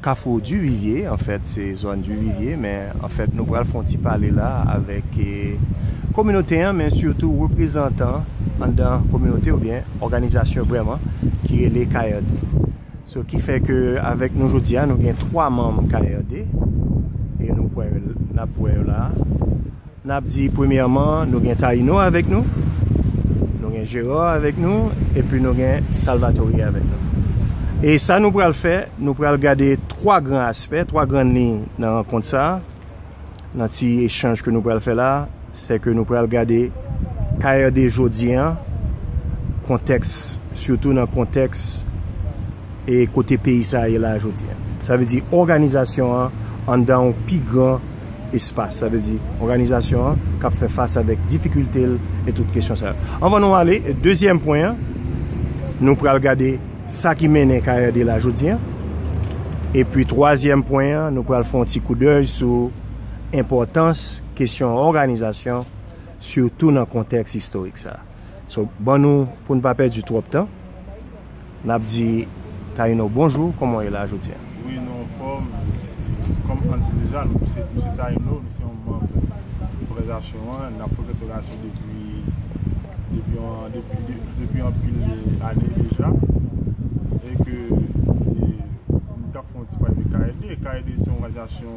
Kafou Duvivye, anfèt se zòn Duvivye men anfèt nou pral fè yon ti pale la avèk kominote an men sitou reprezantan anndan kominote oubyen òganizasyon vrèman ki rele KRD. So ki fè ke avèk nou jodi a nou gen 3 manm KRD e nou kwè yo, n ap wè yo la a. N ap di premyèman nou gen Taïno avèk nou, nou gen Gérard avèk nou epi nou gen Salvatore avèk nou. E sa nou pral fè, nou pral gade 3 gran aspè, 3 gran liy nan rankont sa a, nan ti echanj ke nou pral fè la a. Se ke nou pral gade KRD jodi an, kontèks, sitou nan kontèks e kote peyi sa a ye la a jodi an. Sa vle di òganizasyon an anndan yon pi gran espas, sa vle di òganizasyon an k ap fè fas avèk difikilte l e tout kesyon sa yo. Anvan nou ale dezyèm pwen an, nou pral gade sa ki mennen KRD la jodi an. Epi twazyèm pwen an, nou pral fè yon ti koudèy sou enpòtans kesyon òganizasyon sitou nan kontèks istorik sa. So, ban nou, pou n pa pèdi twòp tan. Nap di Taïno bonjou kòman w ye la jodi a? Wi nou anfòm, kòm Hans di deja nou m se Taïno m se yon manb òganizasyon an nap fè òganizasyon depi depi anpil ane deja e ke nou tap fè yon ti pale de KLD, KLD se yon òganizasyon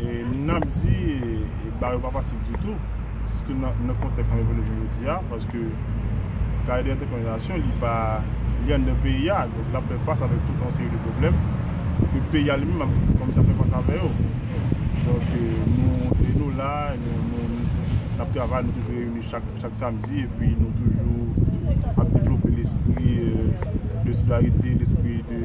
Moun nan ap di ba yo pa fasil ditou, sitou nan kontèks nan revèle jounen jodi a, paske kare de entèpretasyon li pa, li anndan peyi a, donk lap fè fas avèk tout yon seri de pwoblèm, ke peyi a li menm ap kòmanse ap fè fas avè yo. Donk nou, e nou la, nou, nap travay, nou toujou reyini chak samdi, epi nou toujou ap devlope lespri de solidarite, lespri de.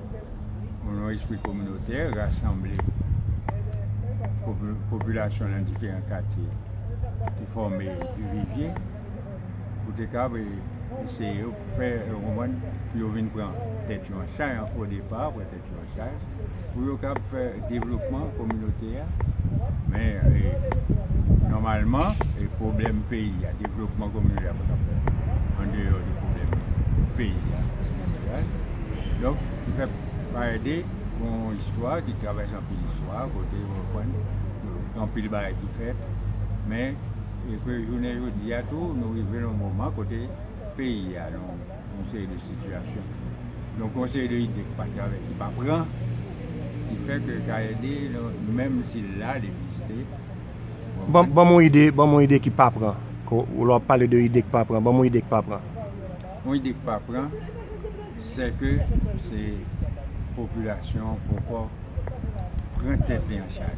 yon espri kominotè, rasanble popilasyon nan diferan katye ki fòme Tivivye pou te kab eseye yo fè yo konprann pou yo vin pran tèt yo an chay o depa, pran tèt yo an chay pou yo kab fè devlopman kominote a men nòmalman e pwoblèm peyi a, devlopman kominote a pa ka fèt an deyò de pwoblèm peyi a an jeneral Donk, se fè Payède gen yon istwa ki travèse anpil istwa, kote ou konprann gen anpil bagay ki fèt. Men, e ke jounen jodi a tou, nou rive nan yon moman kote peyi a nan yon seri de sitiyasyon. Donk, yon seri de ide ki pa travèse, ki pa pran, ki fè ke Kayède, menm si l la, l egziste. Ban m yon ide, ban m yon ide ki pa pran. Lè w ap pale de ide ki pa pran, ban m yon ide ki pa pran. Yon ide k pa pran, sè ke se popilasyon an poko pran tèt li an chaj.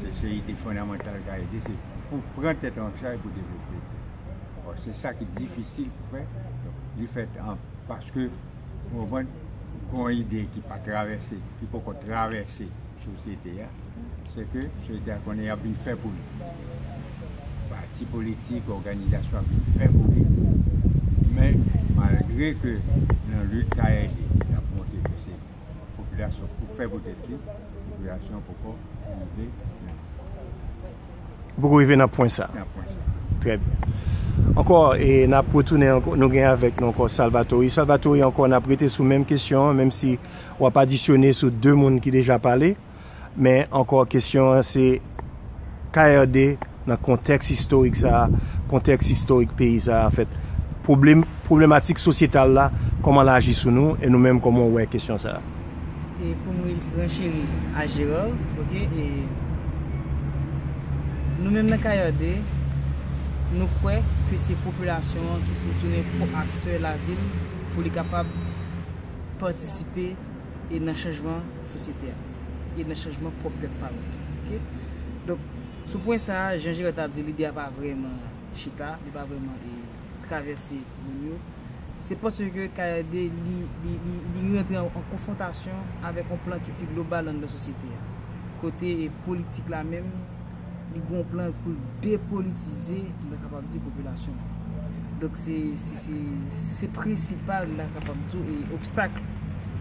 Se se ide fondamantal k a ede, se pou pran tèt an chaj pou devlope. Bon, se sa ki difisil pou fè, li fèt an, paske, ou konprann, gon ide ki pa travèse, ki poko travèse. Sosyete a, se ke sosyete a konnen y ap vin fè pou li. Pati politik, òganizasyon ap vin fè pou li. Men, malgre ke nan lit ka ede, y ap montre ke se popilasyon k pou fè pou tèt li, popilasyon an poko rive nan. Li poko rive nan pwen sa. Nan pwen sa. Trè byen. Ankò, e n ap retounen ankò, nou gen avèk nou ankò Salvatory. Salvatory, ankò n ap rete sou menm kesyon an, menm si. w ap adisyone sou 2 moun ki deja pale, men ankò kesyon an se KRD nan kontèks istorik sa a, kontèks istorik peyi sa a anfèt, pwoblem, pwoblematik sosyetal la, kòman l aji sou nou e nou menm kòman w wè kesyon sa a? E pou m renchéri a Gérard, ok, e nou menm nan KRD, nou kwè ke se popilasyon an ki pou tounen ko-aktè lavil pou li kapab. patisipe e nan chanjman sosyete a e nan chanjman pwòp tèt pa nou tou ok donk sou pwen sa a jan Gerard tap di lide a pa vrèman chita li pa vrèman e travèse moun yo se paske KRD li li rantre an konfwontasyon avèk yon plan ki pi global anndan sosyete a kote politik la menm. li gen yon plan pou l depolitize l ta kapab di popilasyon an. Donk se se prensipal m ta kapab di w e obstak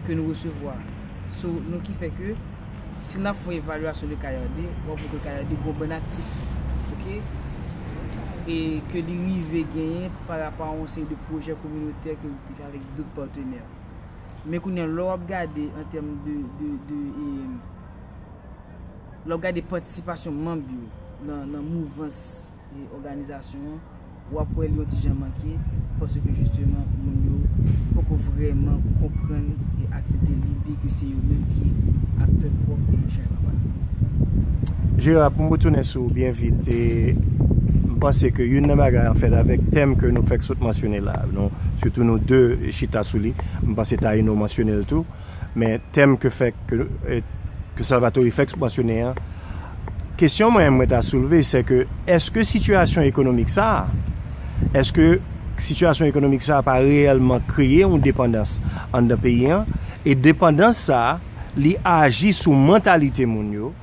ke nou resevwa. So nou ki fè ke si n ap fè yon evalyasyon de Kayande w ap wè ke Kayande gen yon bann aktif ok e ke li rive genyen pa rapo a yon seri de pwojè kominotè ke li te fè avèk dot patenè. Men kounye an lè w ap gade an tèm de e. Lè w gade patisipasyon manb yo nan mouvans e òganizasyon an, w ap wè li yon ti jan manke paske jisteman moun yo poko vrèman konprann e aksepte lide ke se yo menm ki aktè pwòp e chanjman pa yo. Jera, pou m retounen sou ou byen vit, e m panse ke youn nan bagay anfèt avèk tèm ke nou fèk sot mansyone la, nou sitou nou 2 chita sou li, m panse Taïno mansyone l tou, Men tèm ke fè ke Salvatore fèk mansyone an, kesyon mwen mwen ta soulve sè ke èske sitiyasyon ekonomik sa a, èske sitiyasyon ekonomik sa a pa reyèlman kreye yon depandans anndan peyi an e depandans sa a li aji sou mantalite moun yo,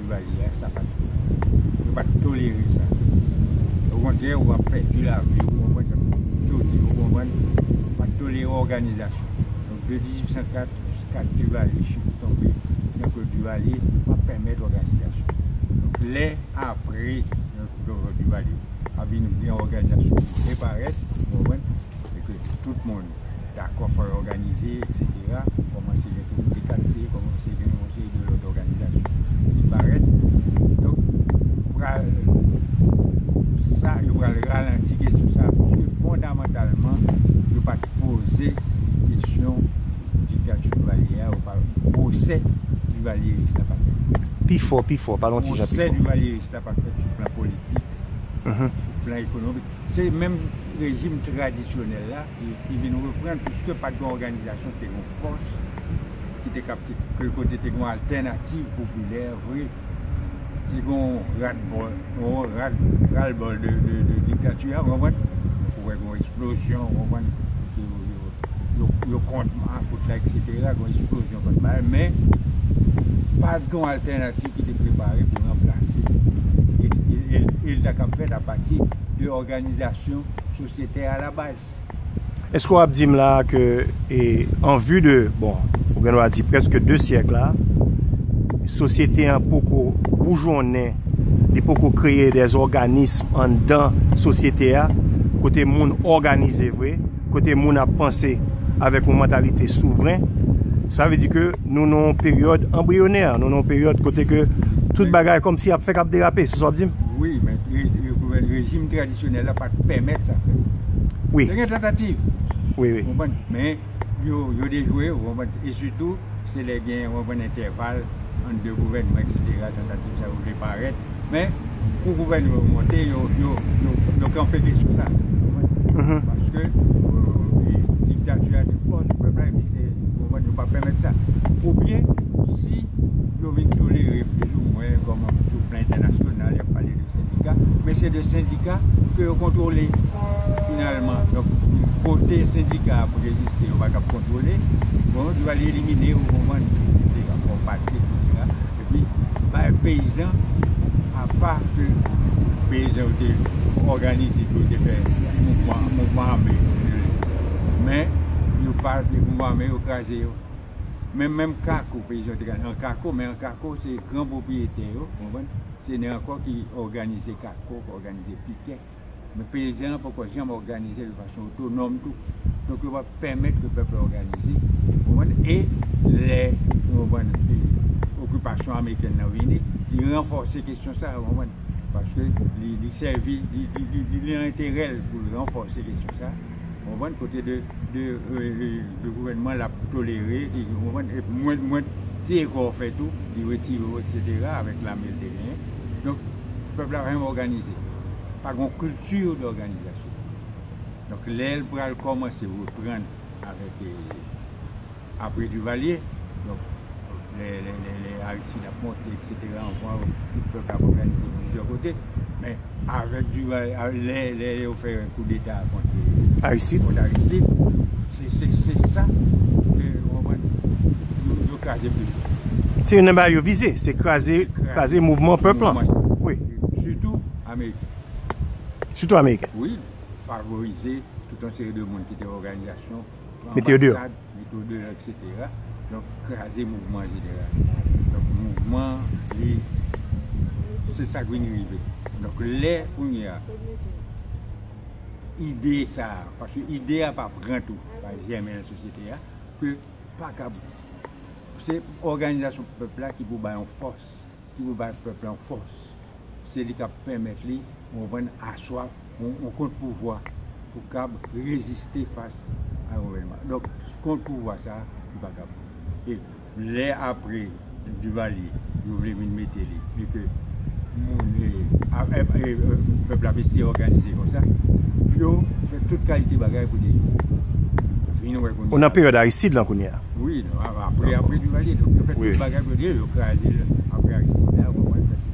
Duvalier a sa pat bon. Yo pat tolere sa. O kontrè ou ap pèdi lavi ou konprann sa m di ou di ou konprann. Yo pat tolere òganizasyon. Donk de 1804 jiska Duvalier chute tonbe nan Claude Duvalier pa pèmèt òganizasyon. Donk lè apre Claude Duvalier ap vin gen òganizasyon ki reparèt ou konprann e ke tout moun. dakò fò yo òganize eksetera pou kòmanse gen komite katye kòmanse gen yon seri de lòt òganizasyon ki parèt donk pral sa yo pral ralanti kesyon sa pouke fondamantalman yo pat poze kesyon diktati Duvalier a ou pa pwosè Duvalierist la pat fèt Pi fò, pi fò, pale yon ti jan pi fò. Pwosè Duvalierist la pat fèt sou plan politik, sou plan ekonomik. Se menm rejim tradisyonèl la ki vin reprann piske pat gen òganizasyon ki te gen fòs, ki te kab te kote te gen altènativ popilè vre. Te gen yon radbòl, yon ralbòl de diktati a, ou konprann? Ou wè gen yon eksplozyon, ou konprann? yo kont makout la etc gon eksplozyon kòt la men pa t gon altènativ ki te prepare pou ranplase e l ta kab fèt apati de òganizasyon sosyete a la baz. Eske w ap di m la ke an vi de bon ou gen dwa di prèske 2 syèk la sosyete an poko boujonnen li poko kreye dè òganism anndan sosyete a kote moun òganize vre kote moun ap panse avèk yon mantalite souvren, sa vle di ke nou nan yon peryòd anbriyonè, nou nan yon peryòd kote ke tout bagay kòmsi ap fèk ap derape, se sa wap dim? Wi, men rejim tradisyonèl la pat pèmèt sa fèt. Wi. Te gen tantativ. Wi, wi. Ou konprann? Men, yo, yo dejwe, ou konprann? E sitou, se lè gen, ou konprann, entèval ant 2 gouvènman, eksetera, tantativ sa yo vle parèt. Men, kou gouvènman yo monte, yo kanpe te sou sa. Paske, diktati a te fò sou pèp la, epi se gouvènman yo pa pèmèt sa. Ou byen, si yo vin tolere plis ou mwen, kòm sou plan entènasyonal, y ap pale de sendika, men se de sendika ke yo kontwole, finalman. Donk, kote sendika a pou egziste, yo pa t ap kontwole, bon, yo va elimine yo, ou konprann, se te yon pati, se te yon pati. Epi bay peyizan apa ke peyizan yo te òganize pou yo te fè mouvman, mouvman ame yo te rele yo. Men yo pa te mouvman ame yo kraze yo. Men menm kako peyizan yo te kraze an kako men an kako se gran pwopriyetè yo, konprann, se nè ankò ki òganize kako, òganize pikè. Men pezen an poko janm òganize de fason otonòm tou. Donk yo pa pèmèt ke pèp la òganize. Ou konprann? E lè, ou konprann, okipasyon amerikèn nan vini, li ranfòse kesyon sa a, ou konprann? Paske li sèvi, li nan enterè l pou l ranfòse kesyon sa a, ou konprann, kote de gouvènman l ap tolere, ou konprann, e mwen ti efò w fè tou, li retire w, eksetera, avèk lame l te genyen. Donk, pèp la pa janm òganize. pa gen yon culture d'organisation. Donk lè l pral kòmanse reprann avèk apre Duvalier, donk lè lè Aristide ap monte eksetera anvan tout pèp la ap òganize plizyè kote men avèk Duvalier lè lè yo fè koudeta kont Aristide kont Aristide se se se sa ke ou konprann? kraze pèp la. Se youn nan bagay yo vize, se kraze, kraze mouvman pèp la. Wi. Sitou ameriken. Sitou ameriken. Wi, favorize tout yon seri de moun ki te òganizasyon, mete yo deyò, mete yo deyò eksetera. Donk kraze mouvman an jeneral. Donk mouvman li se sa k vin rive. Donk lè kounye a ide sa a, paske ide a pa pran tou, pa jèmen nan sosyete a, ke pa kab se òganizasyon pèp la ki pou bay yon fòs ki pou bay pèp la yon fòs se li kap pèmèt li ou konprann aswa yon kont pouvwa pou kab reziste fas a yon gouvènman donk kont pouvwa sa li pa kab e lè apre Duvalier yo vle vin mete li e ke moun e pèp la vle se òganize konsa yo fè tout kalite bagay pou te vin wè kounya. Ou nan peryòd Aristide lan kounya? Wi, apre Duvalier, yo fè tout bagay pou te yo kraze l apre Aristide la.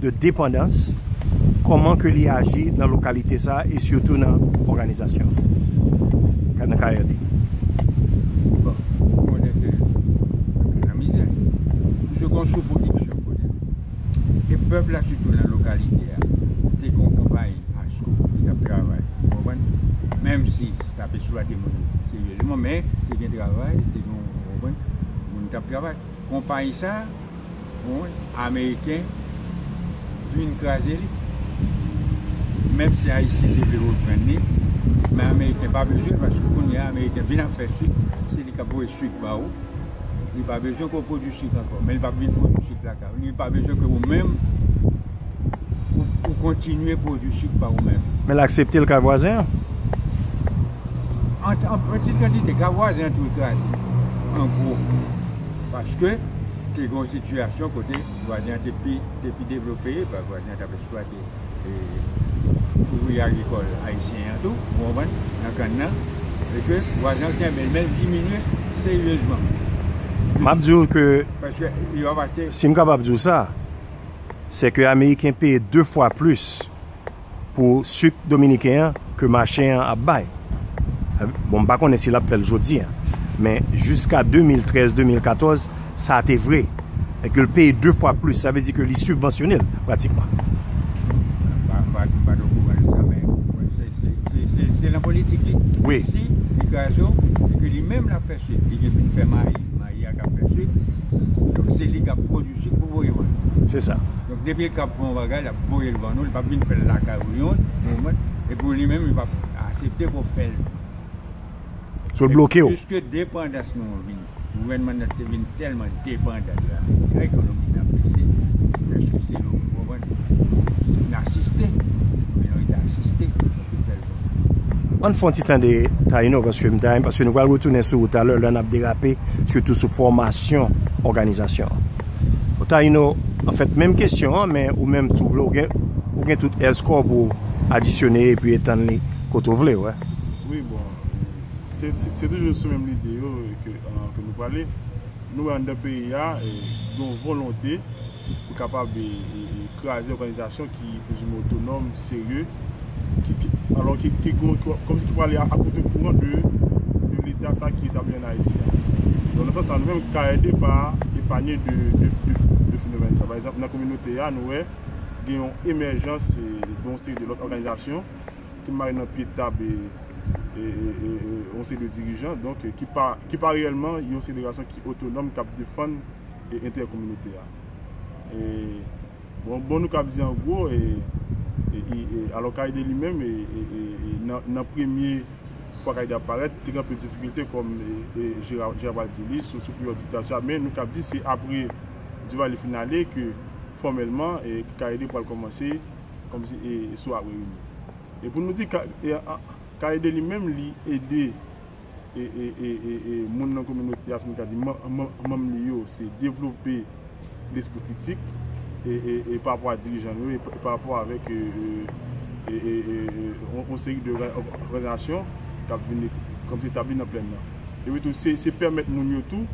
de depandans, kòman ke li aji nan lokalite sa a e sitou nan òganizasyon an, nan karyè li? Bon, nou konnen ke anpil nan mizè. Toujou gen yon sou-pwodiksyon kote nou. E pèp la sitou nan lokalite a te gen yon konpayi Asco ki t ap travay, ou konprann, menm si te ap esplwate moun yo seryezeman men te gen travay, te gen yon, ou konprann, moun k ap travay. Konpayi sa a. Bon ameriken vin kraze li menm si ayisyen te vle reprann li men ameriken pa bezwen paske kounya ameriken vin ap fè sik se li kap voye sik ba ou li pa bezwen ke ou pwodwi sik ankò men li pap vin pwodwi sik lakay ou li pa bezwen ke ou menm ou kontinye pwodwi sik pa ou menm. Men l aksepte l kay vwazen an? An ti kantite kay vwazen an tou l kraze an gwo. Paske, te gen yon sitiyasyon kote vwazen an te pi devlope, vwazen an t ap esplwate ouvriye agrikòl ayisyen an tou, ou konprann, nan kann nan, e ke vwazen an kenbe l, men l diminye seryezman. M ap di w ke, si m kapab di w sa, se ke Ameriken peye de fwa plis. pou suk dominiken an ke mache an ap bay bon m pa konnen si lap fèl jodi an men jiska 2013 2014 sa te vre e ke l peye 2 fwa plis sa vle di ke li sibvansyone l pratikman. Se nan politik li. Wi. Si li kraze w, e ke li menm lap fè suk, li gen pou l fè mayi, mayi a kap fè suk, se li kap pwodui suk pou voye w ale. Se sa. Depi li kab fè yon bagay lap voyel ban nou li pap vin fèl lakay ou yon moman epi li menm li pap asepte pou fèl Sou l bloke w. Piske depandans nou an vin gouvènman nan te vin tèlman depandan de ameriken ekonomi nan bese preske se yo ou konprann n asiste men nou rete asiste pou fèl bon. Ann fon ti tande Taïno paske m ta renmen paske nou pral retounen sou ou talè lè nap derape sitou sou fòmasyon òganizasyon an. Bon Taïno, anfèt menm kesyon an men ou menm si w vle w gen ou gen tout èl score pou w adisyone epi etann li kote w vle wè. Wi bon se se toujou sou menm lide yo ke ke nou prale. Nou wè anndan peyi a gen yon volonte pou kapab kraze òganizasyon ki prezime otonòm, serye, alò ki kòm si ki prale a kote kouran de leta sa ki etabli an Ayiti a. Donk nan sans sa nou menm KRD pa epanye de fenomèn sa. Pa egzanp nan kominote a nou wè gen yon emèjans de yon seri de lòt òganizasyon ki mare nan pye tab yon seri de dirijan donk ki pa reyèlman yon seri de gason ki otonòm k ap defann enterè kominote a. Bon bon nou kap di an gwo e alò Kaïde li menm nan premye fwa Kaïde ap parèt te gen anpil difikilte kòm Gerald di li sou peryòd diktati a men nou kap di se apre Duvalier fin ale ke fòmèlman Kaïde pral kòmanse kòmsi sou ap reyini e pou nou di Kaïde li menm li ede moun nan kominote a fin ka di manm li yo se devlope lespri kritik parapò a dirijan yo e parapò avèk yon seri de òganizasyon k ap vin etabli nan plèn nan. Epi tou se pèmèt moun yo tou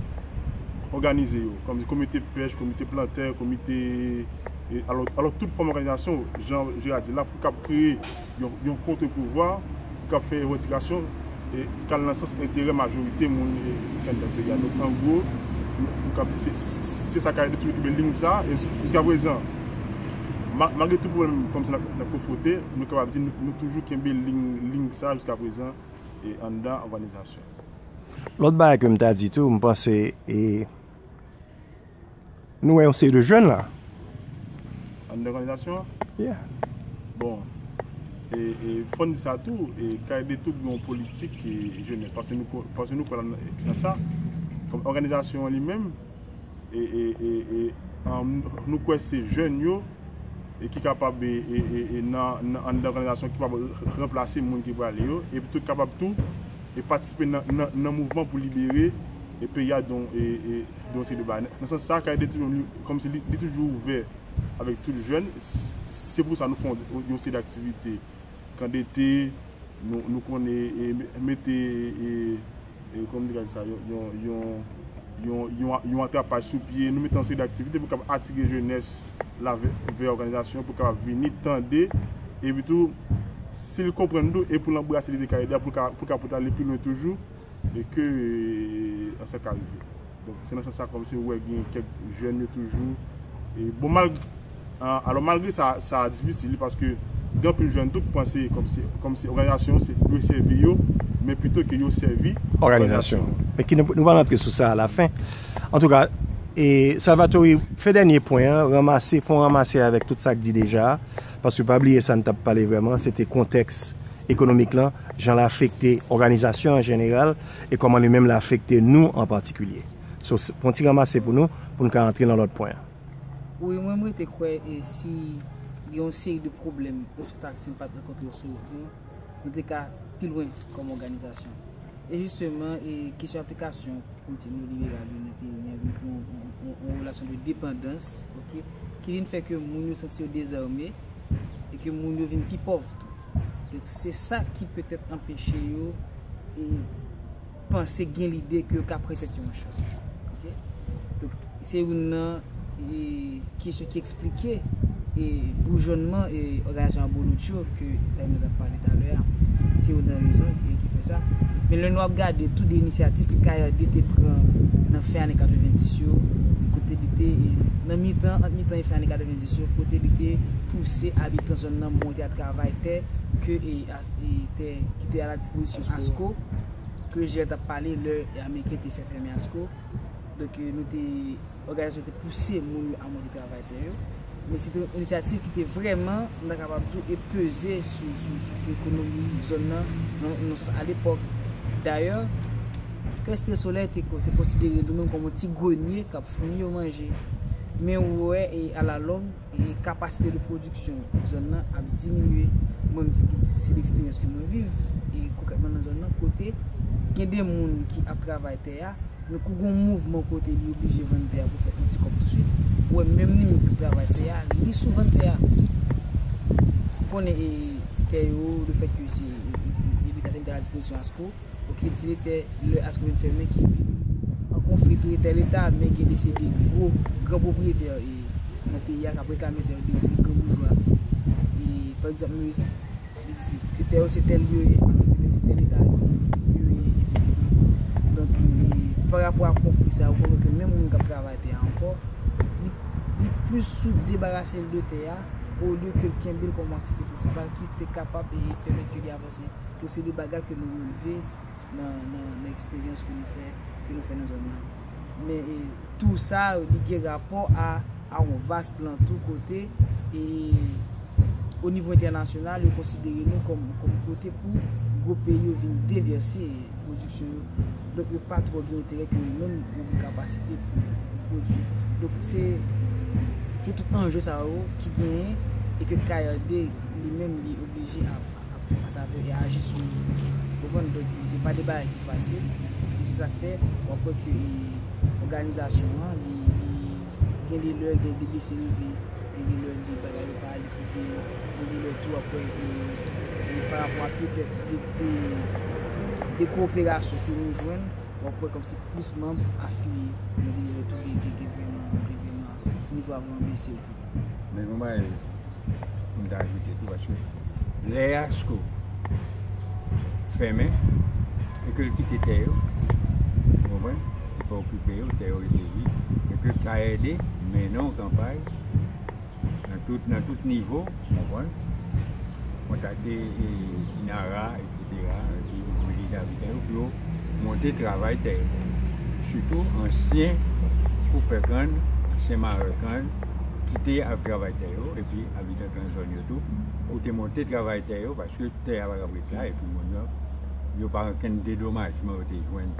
òganize yo kòm komite pèch, komite plantè, komite alò tout fòm òganizasyon jan Jera di la pou k ap kreye. yon kontre-pouvwa k ap fè revandikasyon k al nan sans enterè majorite moun ki anndan peyi a. Donk, an gwo, nou kab di se sa k ap detounen toube liy sa a. E jiska prezan, malgre tout pwoblèm kòm sa n ap konfwonte, nou kapab di nou toujou kenbe liy sa a jiska prezan anndan òganizasyon an. Lòt bagay ke m ta di tou, m panse e. Nou wè yon seri de jèn la. Anndan òganizasyon an? Yeah. Bon, e fò n di sa tou, e KED tou gen yon politik jenès, paske nou kwè nan sa. Kòm òganizasyon an li menm, e nou kwè se jèn yo ki kapab e nan anndan òganizasyon ki kapab ranplase moun ki prale yo, e ki kapab tou e patisipe nan mouvman pou libere peyi a don e. Dosye Deba, Nan sans sa, Kay de Tiyonm kòmsi li toujou ouvè avèk tout jèn. Se pou sa nou fè yon seri aktivite. Kan dete, nou konnen mete kòman nou te ka di sa, yon atrapaj sou pye. Nou mete yon seri aktivite pou kapab atire jenès la vè òganizasyon pou kapab vini tande epitou si l konprann tou e pou l anbrase lide Kay de a pou l ka pote ale pi lwen toujou. e ke an sa ka rive donk se nan sans sa kòm se ou wè gen kèk jèn yo toujou e bon malg alò malgre sa sa difisil wi paske gen anpil jèn tou ki panse kòm se kòm se òganizasyon se dwe sèvi yo men pito ke yo sèvi òganizasyon an men ki nou pral rantre sou sa a la fen antouka e Salvatore fè dènye pwen an ranmase fon ranmase avèk tout sa k di deja a. Paske pa bliye sa n t ap pale vrèman se te kontèks ekonomik lan, jan l afekte òganizasyon an jeneral e kòman li menm l afekte nou an patikilye. So, fon ti ranmase pou nou, pou n ka antre nan lòt pwen an. Wi, mwen m rete kwè e si gen yon seri de pwoblèm, obstak si n pa t rankontre yo sou wout nou, nou te ka pi lwen kòm òganizasyon. E jisteman, e kesyon aplikasyon politik neoliberal yo nan peyi an vin kreye yon relasyon de depandans, ok, ki vin fè ke moun yo santi yo dezame, e ke moun yo vin pi pòv tou. Donk, se sa ki petèt anpeche yo e panse gen lide ke yo ka pran tèt yo an chaj. Ok? Donk, se youn nan e kesyon ki. esplike e boujonman e òganizasyon abolotch yo ke Etay mwen tap pale talè a, se youn nan rezon e ki fè sa. Men lè nou ap gade tou de inisyatif ke KRD te pran nan fen ane 90 yo, kote li te e nan mitan, ant mitan e fen ane 90 yo, kote li te pouse abitan zòn nan monte a travay tè ke e e tè ki te a la dispozisyon ASKO, ke Jilè tap pale lè Ameriken te fè fèmen ASKO. Donk nou te. òganizasyon te pouse moun yo amande travay tè yo, men se te yon inisyativ ki te vrèman, m ta kapab di w, e peze sou ekonomi zòn nan, nan yon sans alepòk. Dayè, Crest de Soleil te konsidere li menm kòm yon ti grenye k ap founi yo manje. Men ou wè, e alalong, E kapasite de pwodiksyon zòn nan ap diminye. Mwen menm se ki di, se leksperyans ke mwen viv. E konkrètman nan zòn nan kote gen de moun ki ap travay tè a, men kou gen yon mouvman kote li oblije vann tè a pou fè yon ti kòb touswit, ou wè menm li menm ki travay tè a, li sou vann tè a. Ou konnen e tè yo, le fèt ke se e leta te mete a la dispozisyon ASCO. pou ki direktè lè aske vin fèmen ki vin an konfli tou e tè leta men gen de se de gwo gran pwopriyetè e nan peyi a kap reklame tè yo de se gran boujwa e pa egzanp nou ke tè yo se tè lye e anke ke tè yo se tè leta yo e efektivman donk e pa rapò a konfli sa ou konnen ke menm moun kap travay tè a ankò li plis sou debarase l de tè a olye ke l kenbe l kòm aktivite prensipal ki te kapab e pèmèt ke li avan. Se pou se de bagay ke nou releve nan eksperyans ke nou fè, ke nou fè nan zòn nan. Men tou sa li gen rapò a yon vas plan tou kote e o nivo entènasyonal yo konsidere nou kòm kote pou gwo peyi yo vin devèse pwodiksyon yo. Donk yo pa twò gen enterè ke yo menm yo gen kapasite pou pwodwi. Donk se se tout anje sa yo ki genyen e ke KRD li menm li oblije ap. Anpil fwa sa vle aji sou moun yo. Ou konprann? Donk, se pa de bagay ki fasil. E se sa k fè, w ap wè ke òganizasyon an, li, li gen de lè gen de bese leve, gen de lè de bagay yo pa ale twò byen, gen de lè tou w ap wè e parapò a petèt de, de koperasyon ke nou jwenn, w ap wè kòmsi plis manm afiliye. Men gen de lè tou gen, gen vreman, gen vreman. nivo avan an bese tou. Men yon bagay pou m ta ajoute tou paske lè ASKO fèmen e ke l kite tè yo, ou konprann, li pa okipe yo, tè yo rete vid e ke KRD mennen yon kanpay nan tout nivo, ou konprann, kontakte INARA, epi mobilize abitan yo pou yo monte travay tè yo. Sitou ansyen koupè kann, ansyen marè kann ki te ap travay tè yo epi abitan kann zòn yo tou pou te monte travay tè yo paske tè a pa kab ret la epi moun yo pa gen okenn dedomajman yo te jwenn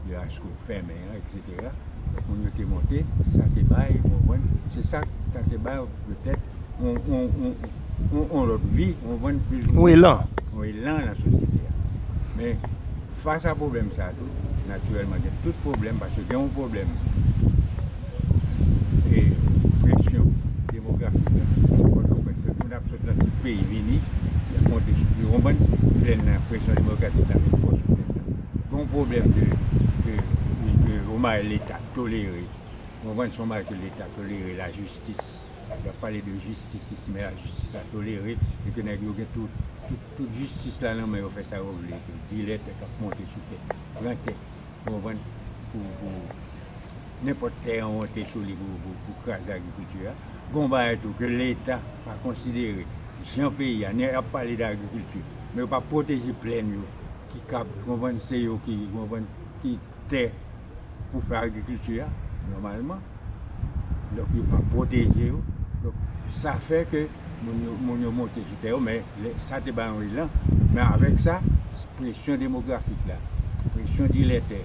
de asko fèmen an etc. Apre a, lòt moun yo te monte, sa te bay, ou konprann, se sa k, sa te bay petèt yon, yon, yon, yon lòt vi, ou konprann, plis ou mwen. Yon elan. Yon elan nan sosyete a. Men, fas a pwoblèm sa a tou, natirèlman gen tout pwoblèm, paske gen yon pwoblèm e presyon demografik la, sou Pòtoprens, fè moun ap sot nan tout peyi vini, y ap monte sou, ou konprann, plèn nan, presyon demografik la vin fò sou plèn nan. Gon pwoblèm ke yon bagay leta tolere, ou konprann se yon bagay ke leta tolere la jistis, yap pale de jistis isi men la jistis la tolere e ke nèg yo gen tout tout jistis la nan men yo fè sa yo vle ke dilè tè kap monte sou tè pran tè ou konprann pou nenpòt tè an monte sou li pou kraze agrikilti a gon bagay tou ke leta pa konsidere jan peyi a yap pale de agrikilti men yo pa pwoteje plèn yo. ki kab konprann se yo ki konprann ki tè pou fè agrikilti a nòmalman. Donk yo pa pwoteje yo. Donk sa fè ke moun yo monte sou tè yo men sa te bay yon elan. Men avèk sa, presyon demografik la, presyon dilè tè,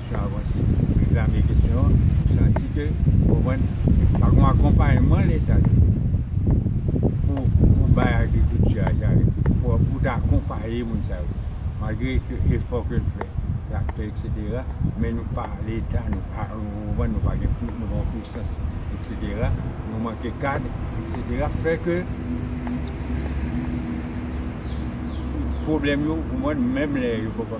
Kesyon avanse. Reklame kesyon an. Nou santi ke, ou konprann, pa gon akonpayman leta te fè pou pou bay agrikilti a sa yo, pou ta akonpaye moun sa yo. Malgre ke efò ke n fè, traktè eksetera, men nou pa leta, nou pa, ou konprann, nou pa gen pi, nou pa yon pisans eksetera, nou manke kad eksetera, fè ke pwoblèm yo, ou konprann, menm lè yo poko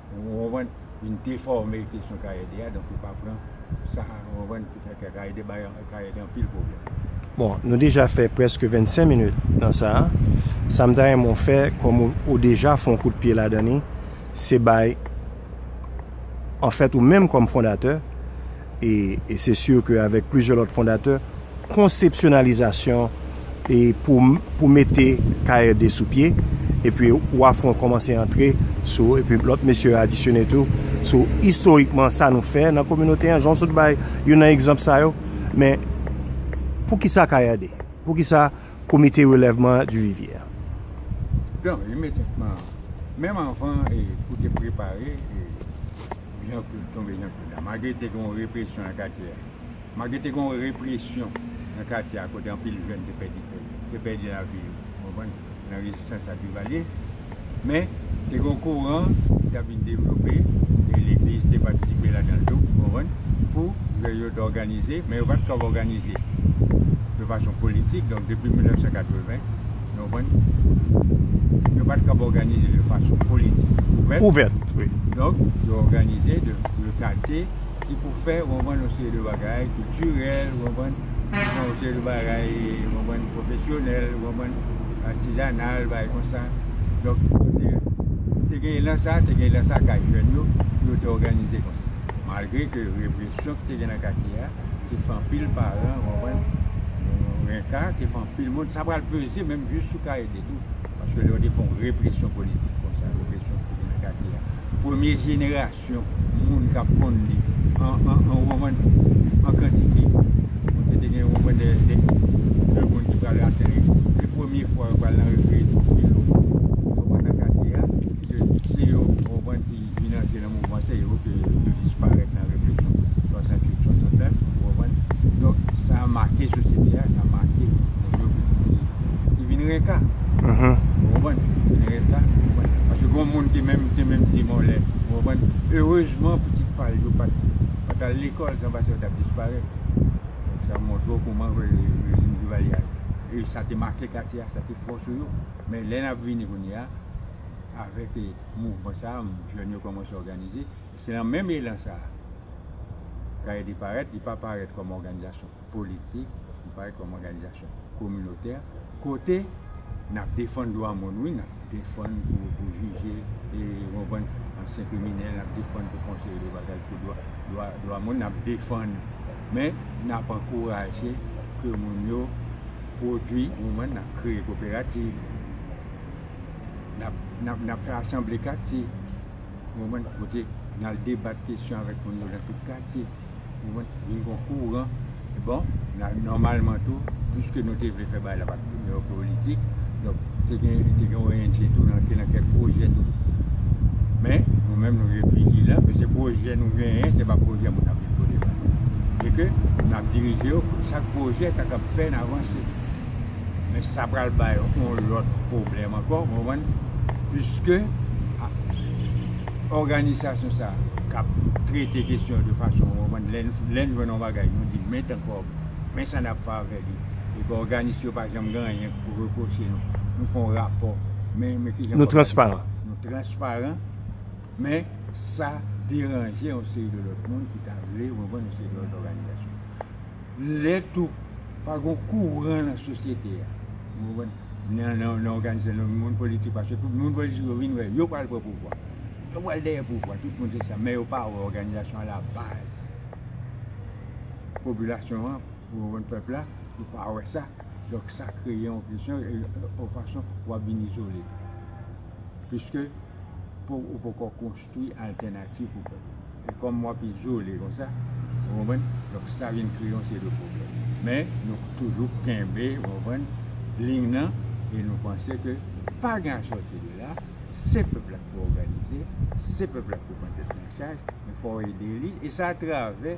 Ou konprann? Vin defòme kesyon Kayede a, donk ou pa pran sa, ou konprann, ki fè ke Kayede bay Kayede anpil pwoblèm. Bon, nou deja fè prèske 25 minit nan sa a. Sa m ta renmen w fè, kòm ou deja fè yon kout pye ladan li, se bay, anfèt ou menm kòm fondatè, E se sur ke avèk plizyè lòt fondatè, konsepsyonalizasyon e pou mete KRD sou pye, epi Wafon kòmanse antre sou, epi lòt mesye yo adisyone tou, sou istorikman sa nou fè nan kominote an, jan w sot bay youn nan egzanp sa yo. Men, pou ki sa KRD? Pou ki sa Komite Relèvman an Duvivier? Donk, imedyatman, menm anvan pou te prepare, Jan Klod tonbe Jan Klod la malgre te gen yon represyon nan katye a malgre te gen yon represyon nan katye a kote anpil jèn te pèdi kè yo te pèdi lavi yo ou konprann nan rezistans a Duvalier men te gen yon koran ki t ap vin devlope e legliz te patisipe ladan l tou ou konprann pou jèn yo t òganize men yo pa t kapab òganize de fason politik donk depi 1980 Nou konprann? Yo pa t kab òganize de fason politik ouvèt. Ouvèt, wi. Donk, yo òganize de le katye ki pou fè, ou konprann, yon seri de bagay kiltirèl, ou konprann, ki fè yon seri de bagay, ou konprann, pwofesyonèl, ou konprann, atizanal, bagay kon sa. Donk, yo te, te gen elan sa a, te gen elan sa a kay jèn yo pou yo te òganize kon sa. Malgre ke represyon ki te gen nan katye a. Te fè anpil paran, ou konprann? Renka, te fè anpil moun. Sa pral peze menm jis sou Kaede tou. Paske lè yo te fè yon represyon politik konsa, represyon ki te nan katye a, premye jenerasyon moun k ap konn li an, an, ou konprann, an kantite. Paske te gen, ou konprann, de, de, de moun ki pral atè li. Se premye fwa yo pral nan rekreye tout filo, ou konprann, nan katye a. Ke se yo, ou konprann, ki. ki vin antre nan mouvman se yo ke yo disparèt nan revolisyon 68, 69 ou konprann, donk sa make sosyete a, sa make moun yo ki vin reka ou konprann, ki vin reka ou konprann, paske gon moun ki menm te menm demòlè ou konprann, erezman pitit pa l yo pa t al lekòl san pase yo t ap disparèt, donk sa montre w kouman rejim Duvalier a e sa te make katye a, sa te fò sou yo, men lè n ap vini kounye a avèk. Mouvman sa a, jèn yo kòmanse òganize. Se nan menm elan sa a, KAED parèt. Li pa parèt kòm òganizasyon politik, li parèt kòm òganizasyon kominotè, kote n ap defann dwa moun, wi, n ap defann pou jije, ou konprann, ansyen kriminèl, n ap defann pou konseye de bagay, pou dwa moun, n ap defann. Men, n ap ankouraje ke moun yo pwodui, ou konprann, n ap kreye koperativ. N ap fè asanble katye, kote n al debat kesyon avèk moun yo nan tout katye. Vin gon kouran. Bon, nòmalman tou, piske nou te vle fè bagay la pa t politik, donk te gen ONG tou ki nan kèk pwojè tou. Men, nou menm nou vle vijilan, pwese pwojè nou genyen, se pa pwojè moun ap vin pote ba nou. E ke n ap dirije yo pou chak pwojè ta kab fè n avanse. men sa pral bay yon lòt pwoblèm ankò ou konprann piske òganisasyon sa k ap trete kesyon yo de fason ou konprann lè n jwenn yon bagay nou di men tan kòb men sa n ap fè avè li epi òganis yo pa janm gen anyen pou repwoche nou nou fè yon rapò men men ki jan nou transparan nou transparan men sa deranje yon seri de lòt moun ki ta vle ou konprann yon seri de lòt òganizasyon. Lè tou pa gon kouran nan sosyete a, ou konprann, nan òganizasyon, nan moun politik, paske tout moun politik yo vin wè yo pral pran pouvwa. Yo pral dèyè pouvwa, tout moun se sa, men yo pa wè òganizasyon alabaz popilasyon an, ou konprann, pèp la, yo pa wè sa. Donk sa kreye yon presyon, yon fason pou w ap vin izole. Piske ou poko konstwi. Ki altènativ pou pèp la? E kòm wap izole konsa, ou konprann, donk sa vin kreye yon seri de pwoblèm. Men, nou toujou kenbe, ou konprann, liy nan e nou panse ke pa gen asòti de la, se pèp la ki pou òganize, se pèp la ki pou pran tèt li an chaj, men fò w ede li, e sa atravè.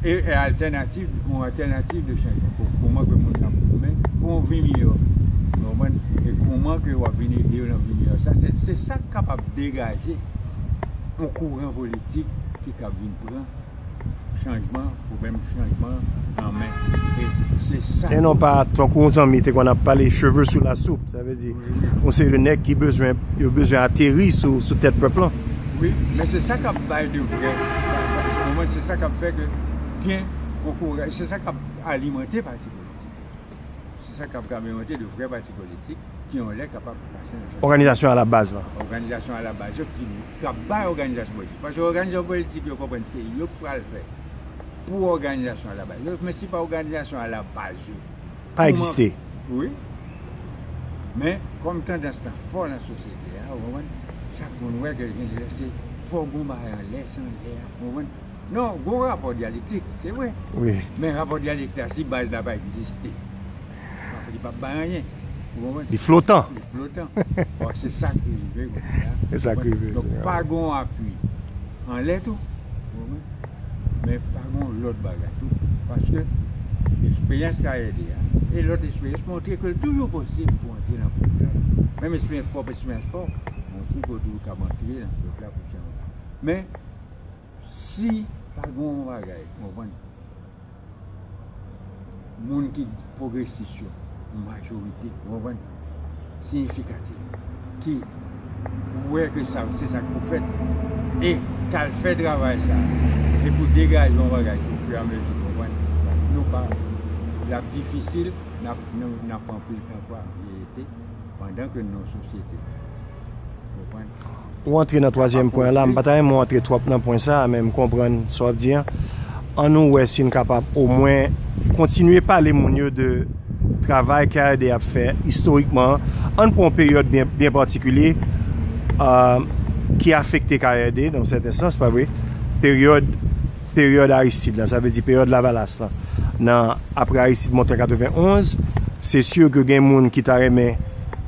E altènativ, yon altènativ de chanjman. Kouman ke moun nan pou men pou yon vi miyò. Nou konprann? E kouman ke wap vin ede yo nan vi miyò sa. Se sa k kapab degaje yon kouran politik ki kab vin pran chanjman, pwoblèm chanjman an men. E se sa. E non pa tankou yon zanmi te konn ap pale cheve sou la soup. Sa vle di yon seri de nèg ki bezwen yo bezwen ateri sou tèt pèp lan. Wi, men se sa kap bay de vrè ou konprann se sa kap fè ke gen kokoray se sa kap alimante pati politik yo se sa kap alimante de vrè pati politik ki yon lè kapab pase nan òganizasyon alabaz lan òganizasyon alabaz yo ki kap bay òganizasyon politik paske òganizasyon politik yo konprann se yo ki pral fè pou òganizasyon alabaz yo men se pa òganizasyon alabaz yo. pa egziste. Wi. Men, kòm tandans lan fò nan sosyete a, ou konprann, chak moun wè ke gen lè se fò gon bagay anlè, se anlè a, ou konprann. Non, gon rapò dyalektik, se vre. Wi. Men rapò dyalektik la, si baz la pa egziste, li pap bay anyen. Ou konprann? Li flotan. Li flotan. Bon, se sa ki rive kounye a. Se sa ki rive kounye a. Donk, pa gon apui anlè tou. Ou konprann? men pa gen yon lòt bagay tou, paske eksperyans KRD a e lòt eksperyans montre ke l toujou posib pou antre nan pwòp la, menm eksperyans pwòp eksperyans pa w, montre ke w toujou kab antre nan pwòp la pou chanje. Men, si pa gen yon bagay, ou konprann? moun ki pwogresis yo, majorite, ou konprann, siyifikatif, ki wè ke sa, se sa ki pou fèt, e k al fè travay sa a, e pou degaje yon bagay ki ofiramezi, ou konprann, nou pa, l ap difisil, n ap, n ap anpil tan pa reyite, pandan ke n nan yon sosyete, ou konprann. Ou antre nan twazyèm pwen an la, m pa ta renmen w antre twòp nan pwen sa a men m konprann sa w ap di an. An nou wè si n kapab omwen kontinye pale moun yo de travay KRD ap fè istorikman an. An n pran yon peryòd byen patikilye ki afekte KRD nan yon sèten sans, pa vre? Peryòd, peryòd Aristide la, sa vle di peryòd Lavalas la. Nan, apre Aristide monte an 91, se si ke gen moun ki ta renmen.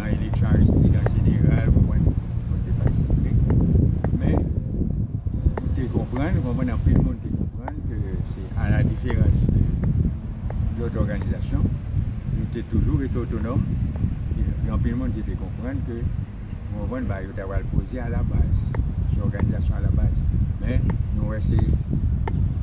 nan eleksyon Aristide an jeneral, konprann, mwen te patisipe, men m te konprann, konprann, anpil moun te konprann ke se a la diferans de lòt òganizasyon, nou te toujou rete otonòm, e gen anpil moun ki te konprann ke, konprann, ba yo ta pral poze a la baz, se òganizasyon a la baz, men nou wè se.